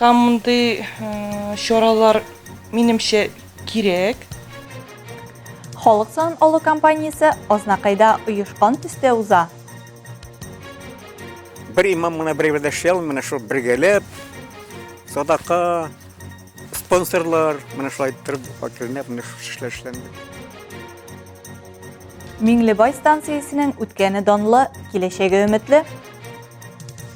Һәм мондый чаралар, минемчә, кирәк. Халык сан алу компаниясе Азнакайда оешкан төстә уза. Бер имам гына бер әйбердә эшли алмый, менә шул бергәләп, садака, спонсорлар, менә шулай иттереп, вәкилнәп, менә шул эшләр эшләнде. Миңлебай станциясенең үткәне данлы, киләчәге өметле.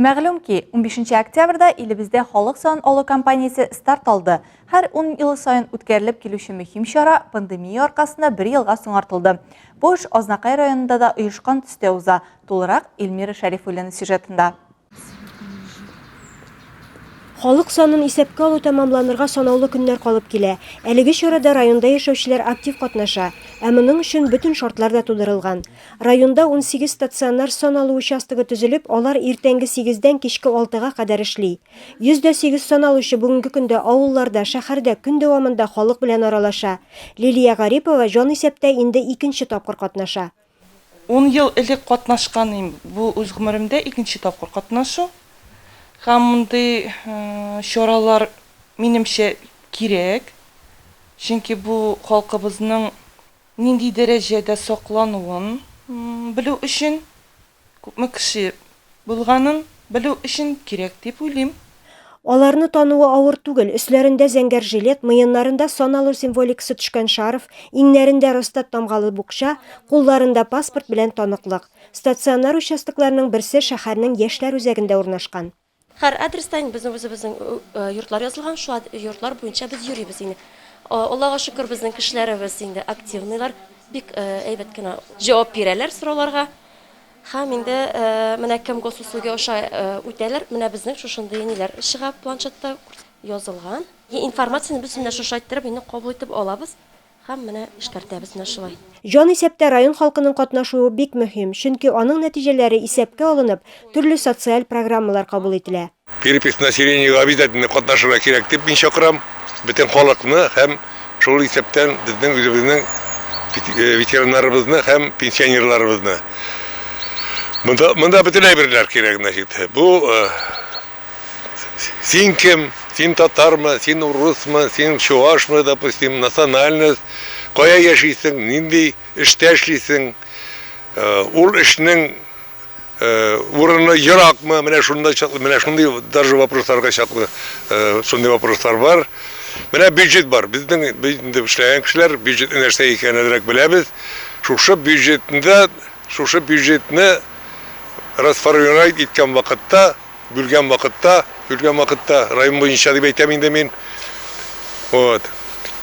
Мәгълүм ки, унбишенче октябрьдә илебездә халык санын алу кампаниясе старт алды. Һәр ун ел саен үткәрелеп килүче мөһим чара пандемия аркасында бер елга соңартылды. Бу эш Азнакай районында да оешкан төстә уза. Тулырак Эльмира Шәрифуллина сюжетында. Халык санын исәпкә алу тәмамланырга санаулы көннәр калып килә. Әлеге чарада районда яшәүчеләр актив катнаша. Ә моның өчен бөтен шартлар да тудырылган. Районда унсигез стационар сан алу участогы төзелеп, алар иртәнге сигездән кичке алтыга кадәр эшли. Йөз дә сигез саналучы бүгенге көндә авылларда, шәһәрдә көн дәвамында халык белән аралаша. Лилия Гарипова җанисәптә инде икенче тапкыр катнаша. Ун ел элек катнашкан идем, бу үз гомеремдә икенче тапкыр катнашу. Һәм мондый чаралар, минемчә, кирәк. Чөнки бу халкыбызның Нинди дәрәҗәдә саклануын белү өчен, күпме кеше булганын белү өчен кирәк дип уйлыйм. Аларны тануы авыр түгел, өсләрендә зәңгәр жилет, муеннарында саналу символикасы төшкән шарф, иңнәрендә Росстат тамгалы букча, кулларында паспорт белән таныклык. Стационар участокларның берсе шәһәрнең Яшьләр үзәгендә урнашкан. Һәр адреста инде безнең үзебезнең йортлар язылган, шул йортлар буенча без йөрибез инде. Аллага шөкер, безнең кешеләребез инде активныйлар, бик әйбәт кенә җавап бирәләр сорауларга. Һәм инде менә кем госуслуги аша үтәләр, менә безнең шушындый ниләр чыга планшетта язылган. Информацияне бөтенләй шушы айттырып инде кабул итеп алабыз. Һәм менә эшкәртәбез менә шулай. Җанисәптә район халкының катнашуы бик мөһим, чөнки аның нәтиҗәләре исәпкә алынып, төрле социаль программалар кабул ителә. Перепись населениега обязательно катнашырга кирәк дип мин чакырам бөтен халыкны һәм шул исәптән безнең үзебезнең ветераннарыбызны һәм пенсионерларыбызны. Монда, монда бөтен әйберләр кирәк, значит, бу. син кем, син татармы, син урысмы, син чуашмы, допустим, национальность, кая яшисең, нинди эштә эшлисең, э, ул эшнең э, урыны еракмы, менә шунда чаклы, менә шундый даже вопросларга чаклы э, шундый вопрослар бар. Менә бюджет бар. Безнең инде эшләгән кешеләр бюджет нәрсә икәнен әзрәк беләбез. Шушы бюджетында, шушы бюджетны расформировать иткән вакытта Бөлгән вакытта, бөлгән вакытта, район буенча дип әйтәм инде мин. Вот.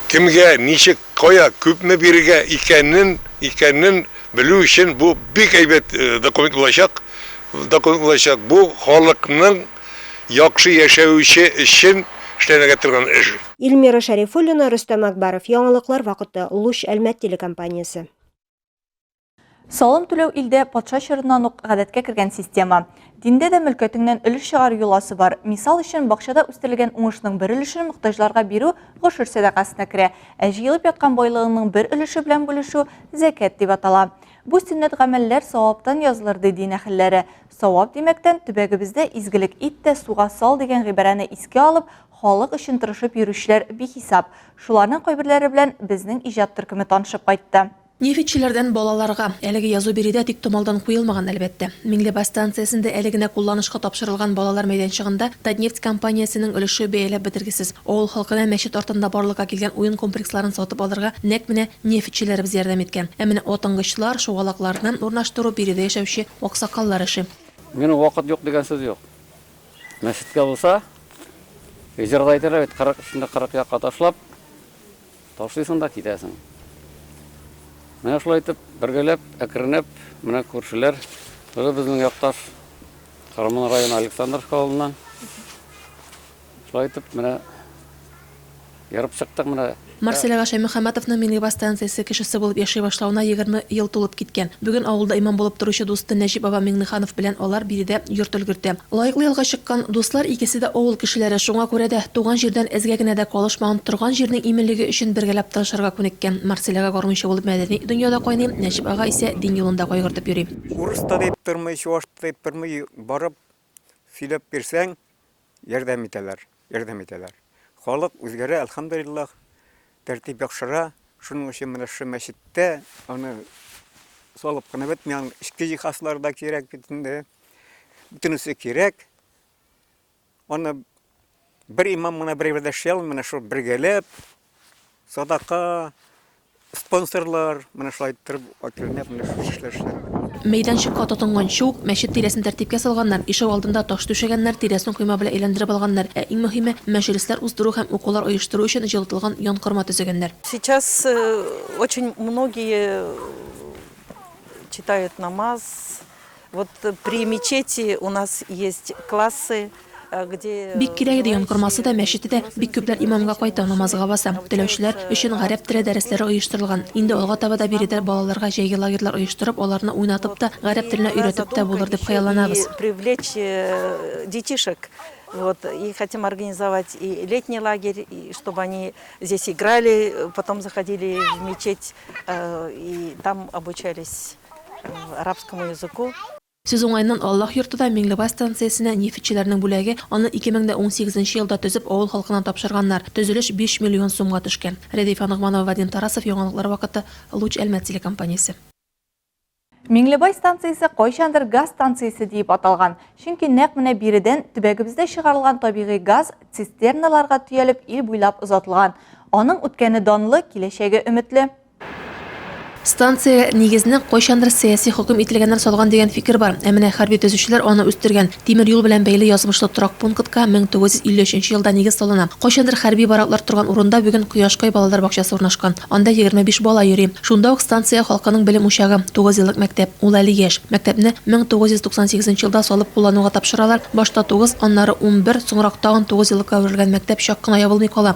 Кемгә, ничек, кая, күпме бирергә икәнен, икәнен белү өчен бу бик әйбәт э, документ булачак. Документ булачак. Бу халыкның яхшы яшәве өчен эшләнергә торган эш. Ильмира Шәрифуллина, Рөстәм Акбаров. Яңалыклар вакыты. Луч Әлмәт телекомпаниясе. Салым түләү илдә патша чорыннан ук гадәткә кергән система. Диндә дә мөлкәтеңнән өлеш чыгару йоласы бар. Мисал өчен, бакчада үстерелгән уңышның бер өлешен мохтаҗларга бирү гошер сәдакасына керә, ә җыелып яткан байлыгыңның бер өлеше белән бүлешү зәкят дип атала. Бу сөннәт гамәлләр саваптан язылыр, ди дин әһелләре. Савап димәктән, төбәгебездә изгелек ит тә суга сал дигән гыйбарәне искә алып, халык өчен тырышып йөрүчеләр бихисап. Шуларның кайберләре белән безнең иҗат төркеме танышып кайтты. Нефтьчеләрдән балаларга. Әлеге язу биредә тиктомалдан куелмаган, әлбәттә. Миңлебай станциясендә әле генә кулланышка тапшырылган балалар мәйданчыгында Татнефть компаниясенең өлеше бәяләп бетергесез. Авыл халкына мәчет артында барлыкка килгән уен комплексларын сатып алырга нәкъ менә нефтьчеләребез ярдәм иткән. Ә менә атынгычлар, шугалакларны урнаштыру биредә яшәүче аксакаллар эше. Минем вакыт юк дигән сүз юк. Мәчеткә булса, җырда әйтәләр бит, кырык эчендә кырык якка ташлап. Ташлыйсың да китәсең. Менә шулай итеп, бергәләп, әкренләп, менә күршеләр, бу безнең якташ Кырымның районы Александровск авылыннан. Шулай итеп, менә ярып чыктык менә. Марселяга Шәймөхәммәтовның Миңлебас станциясе кешесе булып яши башлавына егерме ел тулып киткән. Бүген авылда имам булып торучы дусты Нәҗип баба Миңнеханов белән алар биредә йорт өлгертә. Лаеклы ялга чыккан дуслар икесе дә авыл кешеләре, шуңа күрә дә, туган җирдән эзгә генә дә калышмаган, торган җирнең иминлеге өчен бергәләп тырышырга күнеккән. Марселяга гармунчы булып мәдәни дөньяда кайный, Нәҗип ага исә дин юлында кайгыртып йөри. Урыс та дип тормый, чуваш та дип тормый, барып сөйләп бирсәң, ярдәм итәләр. Ярдәм итәләр. Халык үзгәрә, әлхәмдулиллаһ, тәртип яхшыра. Шуның өчен менә шушы мәчеттә аны салып кына бетми, аның эчке җиһазлары да кирәк бит инде. Бөтенесе кирәк. Аны бер имам гына берәү дә эшли алмый, менә шул бергәләп садака, Спонсорлар, менә шулай иттереп, әкренләп менә шушы эшләр эшләнде. Мәйданчыкка тотынганчы ук, мәчет тирәсен тәртипкә салганнар, ишек алдында таш түшәгәннәр, тирәсен койма белән әйләндереп алганнар, ә иң мөһиме, мәҗлесләр уздыру һәм укулар оештыру өчен җылытылган янкорма төзегәннәр. Сейчас очень многие читают намаз, Вот при мечети у нас есть классы, Бик кирәк иде янкормасы да, мәчете дә, бик күпләр имамга кайта, намазга баса. Теләүчеләр өчен гарәп теле дәресләре оештырылган. Инде алга таба да биредә балаларга җәйге лагерьлар оештырып, аларны уйнатып та, гарәп теленә өйрәтеп тә булыр дип хыялланабыз. Привлечь э, детишек. Вот, и хотим организовать и летний лагерь, и чтобы они здесь играли, потом заходили в мечеть э, и там обучались. арабскому языку. Сүз уңаеннан, Аллаһ йорты да Миңлебай станциясенә нефтьчеләрнең бүләге, аны 2018 нче елда төзеп, авыл халкына тапшырганнар. Төзелеш биш миллион сумга төшкән. Рәдифә Ногманова, Вадим Тарасов, Яңалыклар вакыты, Луч Әлмәт телекомпаниясе. Миңлебай станциясе кайчандыр газ станциясе диеп аталган, чөнки нәкъ менә биредән төбәгебездә чыгарылган табигый газ цистерналарга төялеп ил буйлап озатылган. Аның үткәне данлы, киләчәге өметле. Станция нигезенең кайчандыр сәяси хөкем ителгәннән салган дигән фикер бар, ә менә хәрби төзүчеләр аны үстергән. Тимер юл белән бәйле язмышлы торак пунктка 1953 елда нигез салына. Кайчандыр хәрби бараклар торган урында бүген Кояшкай балалар бакчасы урнашкан. Анда 25 бала йөри. Шунда ук станция халкының белем учагы, тугызьеллык мәктәп. Ул әле яшь. Мәктәпне 1998 елда салып куллануга тапшыралар, башта тугыз, аннары унбер, соңрак тагын тугызьеллыкка әверелгән мәктәп чак кына ябылмый кала.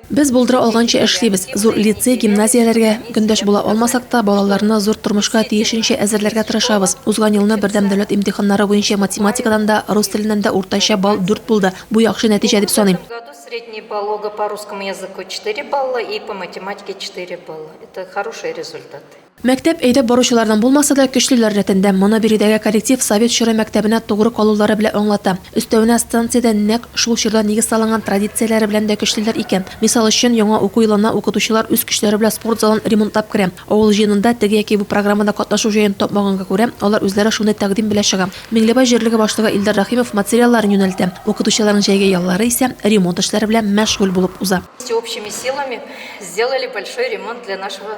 Без булдыра алганча эшлибез. Зур лицей, гимназияләргә көндәш була алмасак та, балаларны зур тормышка тиешенчә әзерләргә тырышабыз. Узган елны бердәм дәүләт имтиханнары буенча математикадан да, рус теленнән дә уртача балл дүрт булды. Бу яхшы нәтиҗә дип саныйм. Мәктәп әйдәп баручылардан булмаса да, көчлеләр рәтендә. Моны биредәге коллектив Совет чоры мәктәбенә тугры калулары белә аңлата. Өстәвенә, станциядә нәкъ шул чорда нигез салынган традицияләре белән дә көчлеләр икән. Мисал өчен, яңа уку елына укытучылар үз көчләре белән спорт залын ремонтлап керә. Авыл җыенында теге яки бу программада катнашу җаен тапмаганга күрә, алар үзләре шундый тәкъдим белә чыга. Миңлебай җирлеге башлыгы Илдар Рәхимов материалларын юнәлтә. Укытучыларның җәйге яллары исә ремонт эшләре белән мәшгуль булып уза. Всеобщими силами сделали большой ремонт для нашего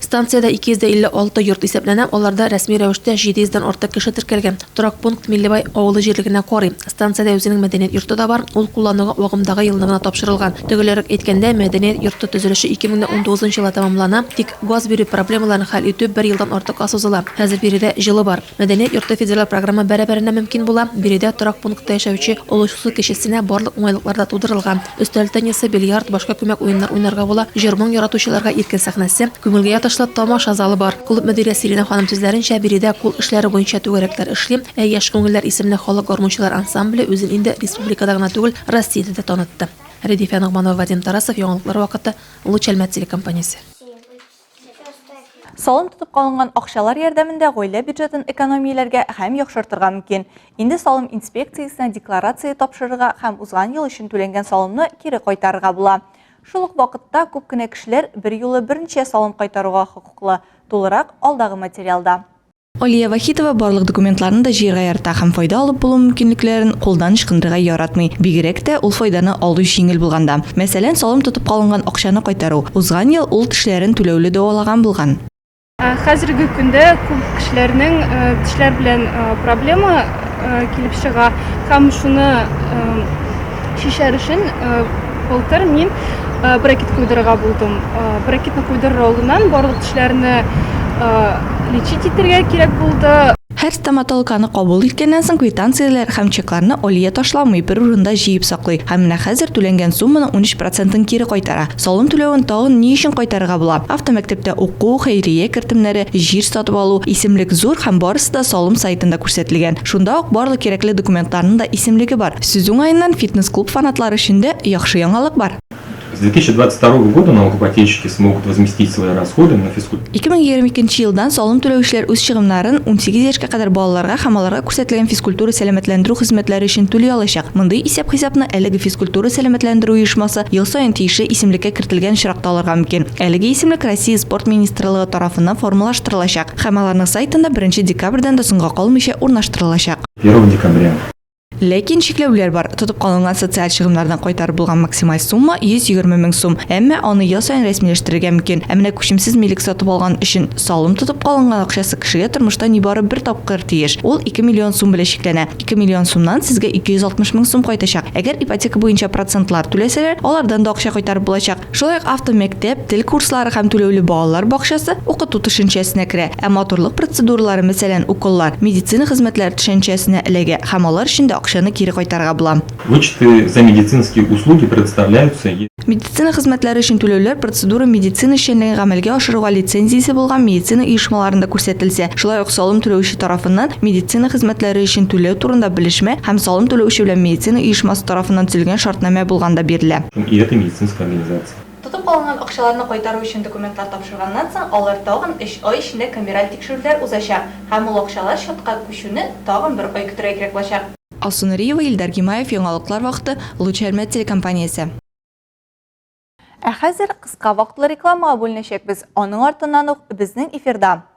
Станциядә 256 йорт исәпләнә, аларда рәсми рәвештә 700 дән артык кеше теркәлгән. Торак пункт Миллебай авылы җирлегенә карый. Станциядә үзенең мәдәният йорты да бар, ул куллануга агымдагы елны гына тапшырылган. Төгәлрәк әйткәндә, мәдәният йорты төзелеше 2019 елда тәмамлана, тик газ бирү проблемаларын хәл итү бер елдан артыкка сузыла. Хәзер биредә җылы бар. Мәдәният йорты федераль програмы бәрабәренә мөмкин була, биредә торак пунктта яшәүче олы чусы кешесенә барлык уңайлыклар да тудырылган. Өстәл теннисы, бильярд, башка күмәк уеннар уйнарга була, җыр-моң яратучыларга иркен сәхнәсе, күңелгә ятышлы тамаша залы бар. Клуб мөдире Сиринә ханым сүзләренчә, биредә кул эшләре буенча түгәрәкләр эшли, ә Яшь күңелләр исемле халык гармунчылар ансамбле үзен инде республикада гына түгел, Россиядә дә танытты. Рәдифә Ногманова, Вадим Тарасов, яңалыклар вакыты, Луч Әлмәт телекомпаниясе. Салым тотып калынган акчалар ярдәмендә гаилә бюджетын экономияләргә һәм яхшыртырга мөмкин. Инде салым инспекциясенә декларация тапшырырга һәм узган ел өчен түләнгән салымны кире кайтарырга була. Шул ук вакытта күп кенә кешеләр берьюлы берничә салым кайтаруга хокуклы, тулырак алдагы материалда. Алия Вахитова барлык документларны да җыярга ярата һәм файда алып булу мөмкинлекләрен кулдан ычкындырырга яратмый, бигрәк тә ул файданы алу җиңел булганда. Мәсәлән, салым тотып калынган акчаны кайтару. Узган ел ул тешләрен түләүле дәвалаган булган. Хәзерге көндә күп кешеләрнең тешләр белән проблема килеп чыга һәм шуны чишәр өчен былтыр мин брекет куйдырырга булдым. Брекетны куйдырыр алдыннан барлык тешләрне лечить итәргә кирәк булды. Һәр стоматологаны кабул иткәннән соң квитанцияләр һәм чекларны Алия ташламый, бер урында җыеп саклый һәм менә хәзер түләнгән сумманың унөч процентын кире кайтара. Салым түләвен тагын ни өчен кайтарырга була? Автомәктәптә уку, хәйрия кертемнәре, җир сатып алу, исемлек зур һәм барысы да салым сайтында күрсәтелгән. Шунда ук барлык кирәкле документларның да исемлеге бар. Сүз уңаеннан, фитнес-клуб фанатлары өчен дә яхшы яңалык бар. С 2022 года налогоплательщики смогут возместить свои расходы на физкультуру. 2022 елдан салым түләүчеләр үз чыгымнарын унсигез яшькә кадәр балаларга һәм аларга күрсәтелгән физкультура-сәламәтләндерү хезмәтләре өчен түли алачак. Мондый исәп-хисапны әлеге физкультура-сәламәтләндерү оешмасы ел саен тиешле исемлеккә кертелгән очракта алырга мөмкин. Әлеге исемлек Россия Спорт министрлыгы тарафыннан формалаштырылачак. Һәм аларның сайтында беренче декабрьдән дә соңга калмыйча урнаштырылачак. Первого декабря. Ләкин чикләүләр бар, тотып калынган социаль чыгымнардан кайтарып булган максималь сумма 120 мең сум, әмма аны ел саен рәсмиләштерергә мөмкин. Ә менә күчемсез милек сатып алган өчен салым тотып калынган акчасы кешегә тормышта нибары бер тапкыр тиеш, ул 2 миллион сум белән чикләнә. 2 миллион сумнан сезгә 260 мең сум кайтачак. Әгәр ипотека буенча процентлар түләсәләр, алардан да акча кайтарып булачак. Шулай ук автомәктәп, тел курслары һәм түләүле балалар бакчасы укыту төшенчәсенә керә, ә матурлык процедуралары, мәсәлән, уколлар, медицина хезмәтләре төшәнчәсенә эләгә һәм алар өчен дә акчаны кире кайтарырга була. Вычеты за медицинские услуги предоставляются е. Медицина хезмәтләре өчен түләүләр процедура медицина эшчәнлеген гамәлгә ашыруга лицензиясе булган медицина оешмаларында күрсәтелсә, шулай ук салым түләүче тарафыннан медицина хезмәтләре өчен түләү турында белешмә һәм салым түләүче белән медицина оешмасы тарафыннан төзелгән шартнамә булганда бирелә. Һәм и это медицинская организация. Тотып калынган акчаларны кайтару өчен документлар тапшырганнан соң, алар тагын өч ай эчендә камераль тикшерүләр узачак һәм ул акчалар счетка күчүне тагын бер ай көтәргә кирәк булачак. Алсу Нуриева, Илдар Гимаев, Яңалыклар вакыты, Луч Әлмәт телекомпаниясе. Ә хәзер кыска вакытлы рекламага бүленәчәкбез, аның артыннан ук безнең эфирда.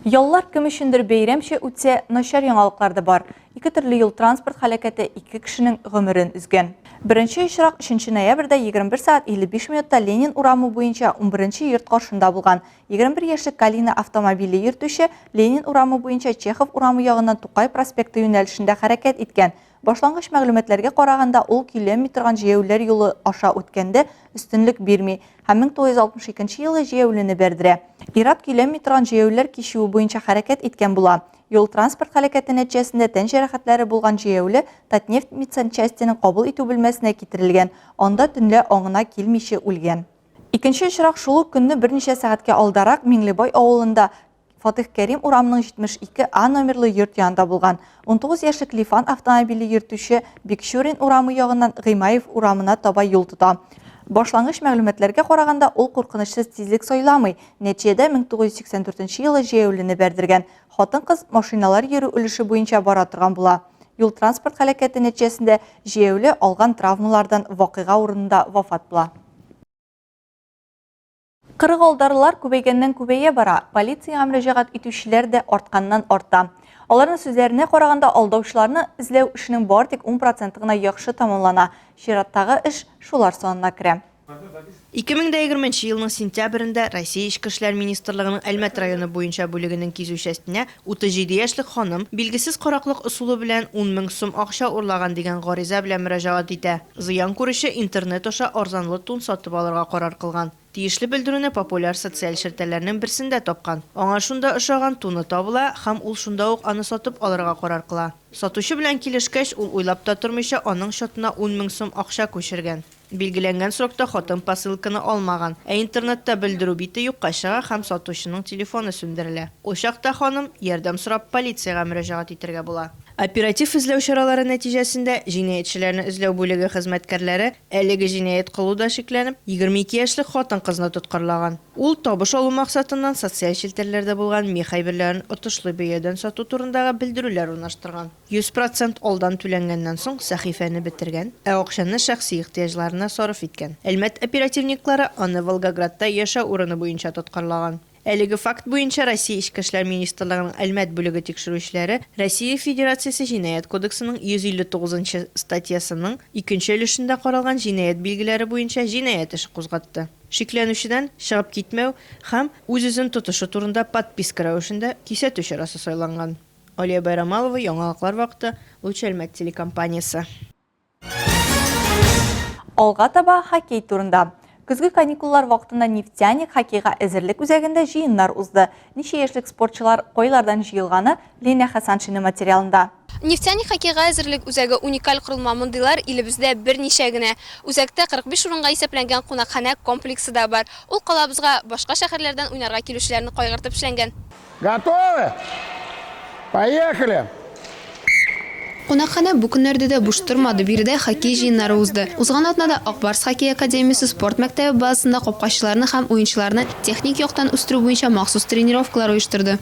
Яллар кем өчендер бәйрәмчә үтсә, начар яңалыклар да бар. Ике төрле юл-транспорт халәкәте ике кешенең гомерен өзгән. Беренче очрак 3 ноябрьдә 21 сәгать 55 минутта Ленин урамы буенча унберенче йорт каршында булган. 21 яшьлек Калина автомобиле йөртүче Ленин урамы буенча Чехов урамы ягыннан Тукай проспекты юнәлешендә хәрәкәт иткән. Башлангыч мәгълүматларга караганда, ул көйләнми торган җәяүләр юлы аша үткәндә өстенлек бирми һәм 1962 елы җәяүлене бәрдерә. Ир-ат көйләнми торган җәяүләр кичүе буенча хәрәкәт иткән була. Юл-транспорт һәлакәте нәтиҗәсендә тән җәрәхәтләре булган җәяүле Татнефть медсанчастенең кабул итү бүлмәсенә китерелгән, анда төнлә аңына килмиче үлгән. Икенче очрак шул ук көнне берничә сәгатькә алдарак Миңлебай авылында Фатих Кәрим урамының 72А номерлы йорт янында булган 19 яшьлек Лифан автомобиле йөртүче Бикчурин урамы ягыннан Гыймаев урамына таба юл тота. Башлангыч мәгълүматларга караганда, ул куркынычсыз тизлек сайламый. Нәтиҗәдә 1984 елы җәяүлене бәрдергән. Хатын-кыз машиналар йөрү өлеше буенча бара торган була. Юл-транспорт һәлакәте нәтиҗәсендә җәяүле алган травмалардан вакыйга урынында вафат була. Кырыгалдарлар күбәйгәннән-күбәя бара, полициягә мөрәҗәгать итүчеләр дә артканнан-арта. Аларның сүзләренә караганда, алдаучыларны эзләү эшенең бары тик 10 проценты гына яхшы тәмамлана, чираттагы эш шулар санына керә. 2020 елның сентябрендә Россия Эчке эшләр министрлыгының Әлмәт районы буенча бүлегенең кизү частенә Утыз җиде яшьлек ханым билгесез караклык ысулы белән ун мең сум акча урлаган дигән гариза белән мөрәҗәгать итә. Зыян күрүче интернет аша арзанлы тун сатып алырга карар кылган. Тиешле белдерүне популяр социаль челтәрләрнең берсендә тапкан. Аңа шунда ошаган туны табыла һәм ул шунда ук аны сатып алырга карар кыла. Сатучы белән килешкәч, ул уйлап та тормыйча аның счетына ун мең сум акча күчергән. Билгеләнгән срокта хатын посылканы алмаган, ә интернетта белдерү бите юкка чыга һәм сатучының телефоны сүндерелә. Ул чакта ханым, ярдәм сорап, полициягә мөрәҗәгать итәргә була. Оператив эзләү чаралары нәтиҗәсендә җинаятьчеләрне эзләү бүлеге хезмәткәрләре әлеге җинаять кылуда шикләнеп, 22 яшьлек хатын-кызны тоткарлаган. Ул табыш алу максатыннан социаль челтәрләрдә булган мех әйберләрен отышлы бәядән сату турындагы белдерүләр урнаштырган. Йөз процент алдан түләнгәннән соң сәхифәне бетергән, ә акчаны шәхси ихтыяҗларына сарыф иткән. Әлмәт оперативниклары аны Волгоградта яшәү урыны буенча тоткарлаган. Әлеге факт буенча Россия Эчке эшләр министрлыгының Әлмәт бүлеге тикшерүчеләре Россия Федерациясе Җинаять кодексының 159 нчы статьясының икенче өлешендә каралган җинаять билгеләре буенча җинаять эше кузгатты. Шикләнүчедән чыгып китмәү һәм үз-үзен тотышы турында подписка рәвешендә кисәтү чарасы сайланган. Алия Байрамалова, Яңалыклар вакыты, Луч Әлмәт телекомпаниясе. Алга таба хоккей турында. Көзге каникуллар вакытында Нефтяник хоккейга әзерлек үзәгендә җыеннар узды. Ничә яшьлек спортчылар, кайлардан җыелганы Лена Хәсаншина материалында. Нефтяник хоккейга әзерлек үзәге уникаль корылма, мондыйлар илебездә берничә генә. Үзәктә 45 урынга исәпләнгән кунакханә комплексы да бар. Ул калабызга башка шәһәрләрдән уйнарга килүчеләрне кайгыртып эшләнгән. Готовы? Поехали! Кунакханә бу көннәрдә дә буш тормады, биредә хоккей җыеннары узды. Узган атнада Ак Барс хоккей академиясе спорт мәктәбе базасында капкачыларны һәм уенчыларны техник яктан үстерү буенча махсус тренировкалар оештырды.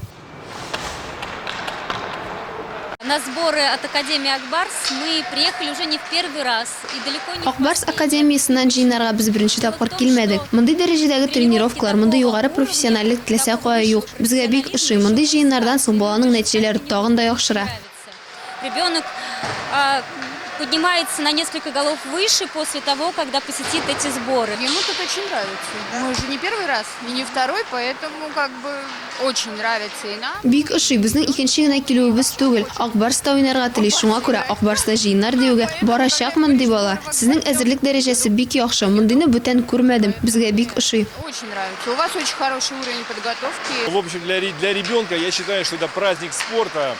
На сборы от Академии Ак Барс мы приехали уже не в первый раз. Ак Барс академиясеннән җыеннарга без беренче тапкыр килмәдек. Мондый дәрәҗәдәге тренировкалар, мондый югары профессиональлек теләсә кая юк. Безгә бик ошый. Мондый җыеннардан соң баланың нәтиҗәләре тагын да яхшыра. Ребенок поднимается на несколько голов выше после того, когда посетит эти сборы. Ему тут очень нравится. Мы уже не первый раз и не второй, поэтому как бы. Очень нравится и нам. Бик ошый, безнең икенче генә килүебез түгел. Ак Барс та уйнарга тели, шуңа күрә Ак Барс да җыеннар диюгә барачакмын, ди бала. Сезнең әзерлек дәрәҗәсе бик яхшы, мондыйны бүтән күрмәдем, безгә бик ошый. Очень нравится. У вас очень хороший уровень подготовки. В общем для для ребенка я считаю что это праздник спорта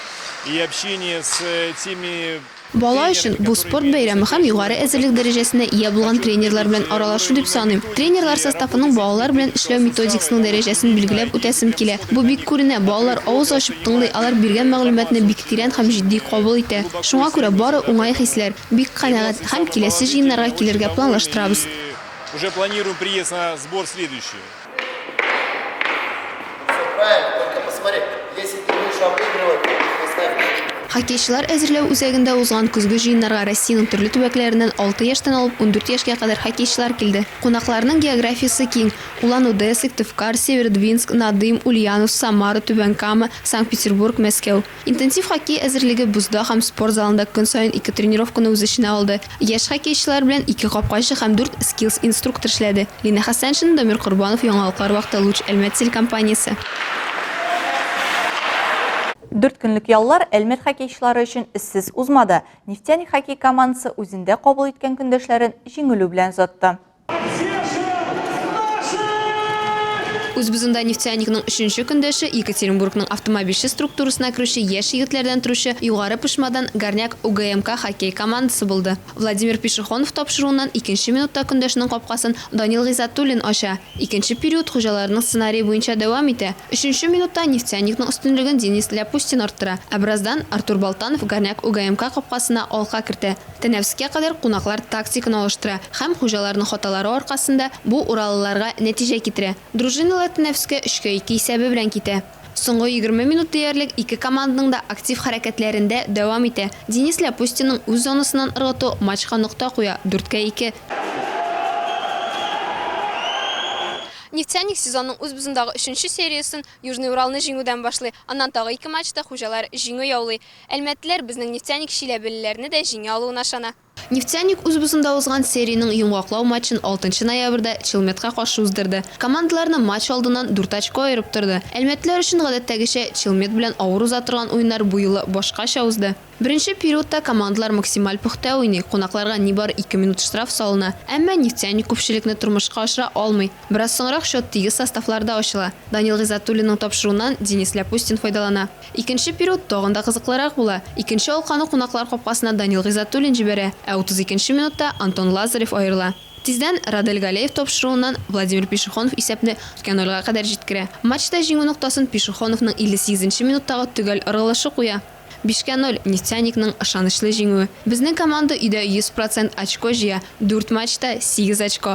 и общение с теми. Бала өчен бу спорт бәйрәме һәм югары әзерлек дәрәҗәсенә ия булган тренерлар белән аралашу дип саныйм. Тренерлар составының балалар белән эшләү методикасының дәрәҗәсен билгеләп үтәсем килә. Бу бик күренә, балалар авыз ачып тыңлый, алар биргән мәгълүматны бик тирән һәм җитди кабул итә. Шуңа күрә бары уңай хисләр. Бик канәгать һәм киләсе җыеннарга килергә планлаштырабыз. Хоккейчылар әзерләү үзәгендә узган көзге җыеннарга Россиянең төрле төбәкләреннән алты яшьтән алып ундүрт яшькә кадәр хоккейчылар килде. Кунакларның географиясе киң, Улан-Уде, Сыктывкар, Северодвинск, Надым, Ульяновск, Самара, Түбән Кама, Санкт-Петербург, Мәскәү. Интенсив хоккей әзерлеге бозда һәм спорт залында көн саен ике тренировканы үз эченә алды. Яшь хоккейчылар белән ике капкачы һәм дүрт скиллс-инструктор эшләде. Лина Хәсәншина, Дамир Корбанов, Яңалыклар вакыты, Луч Әлмәт телекомпаниясе. Дүрт көнлек яллар Әлмәт хоккейчылары өчен эзсез узмады. Нефтяник хоккей командасы үзендә кабул иткән көндәшләрен җиңелү белән озатты. Үзбузында нефтяникның өченче көндәше, Екатеринбургның автомобильче структурасына керүче яшь егетләрдән торучы Югары Пышмадан Горняк УГМК хоккей командасы булды. Владимир Пешехонов тапшыруыннан икенче минутта көндәшенең капкасын Данил Гыйззатуллин ача. Икенче период хуҗаларының сценарие буенча дәвам итә. Өченче минутта нефтяникның өстенлеген Денис Ляпустин арттыра, ә бераздан Артур Болтанов Горняк УГМК капкасына алка кертә. Тәнәфескә кадәр кунаклар тактиканы алыштыра һәм хуҗаларның хаталары аркасында бу уралыларга нәтиҗә китерә. Дружиналар тәнәфескә өчкә ике исәбе белән китә. Соңгы егерме минут диярлек ике команданың да актив хәрәкәтләрен дә дәвам итә. Денис Ляпустинның үз зонасыннан ыргытуы матчка нокта куя, дүрткә ике. Нефтяник сезонның үзбзындагы өченче сериясен Южный Уралны җиңүдән башлый. Аннан тагы ике матчта хуҗалар җиңү яулый. Әлмәтлеләр безнең Нефтяник чиләбелеләрне дә җиңә алуына ышана. Нефтяник үз бусында узган сериянең йомгаклау матчын алтынчы ноябрьдә Челметка каршы уздырды. Командаларны матч алдыннан дүрт очко аерып торды. Әлмәтлеләр өчен гадәттәгечә Челмет белән авыр уза торган уеннар бу юлы башкача узды. Беренче периодта командалар максималь пөхтә уйный, кунакларга нибары ике минут штраф салына. Әмма Нефтяник күпчелекне тормышка ашыра алмый. Бераз соңрак счет тигез составларда ачыла. Данил Гыйззатуллинның тапшыруыннан Денис Ляпустин файдалана. Икенче период тагын да кызыклырак була. Икенче алканы кунаклар капкасына Данил Гыйззатуллин җибәрә, ә 32 нче минутта Антон Лазарев аерыла. Тиздән Радель Галеев тапшыруыннан Владимир Пешехонов исәпне ике нольга кадәр җиткерә. Матчта җиңү ноктасын Пешехоновның 58 нче минуттагы төгәл ыргылышы куя. Бишкә ноль, Нефтяникның ышанычлы җиңүе. Безнең команда өйдә 100 процент очко җыя, дүрт матчта, сигез очко.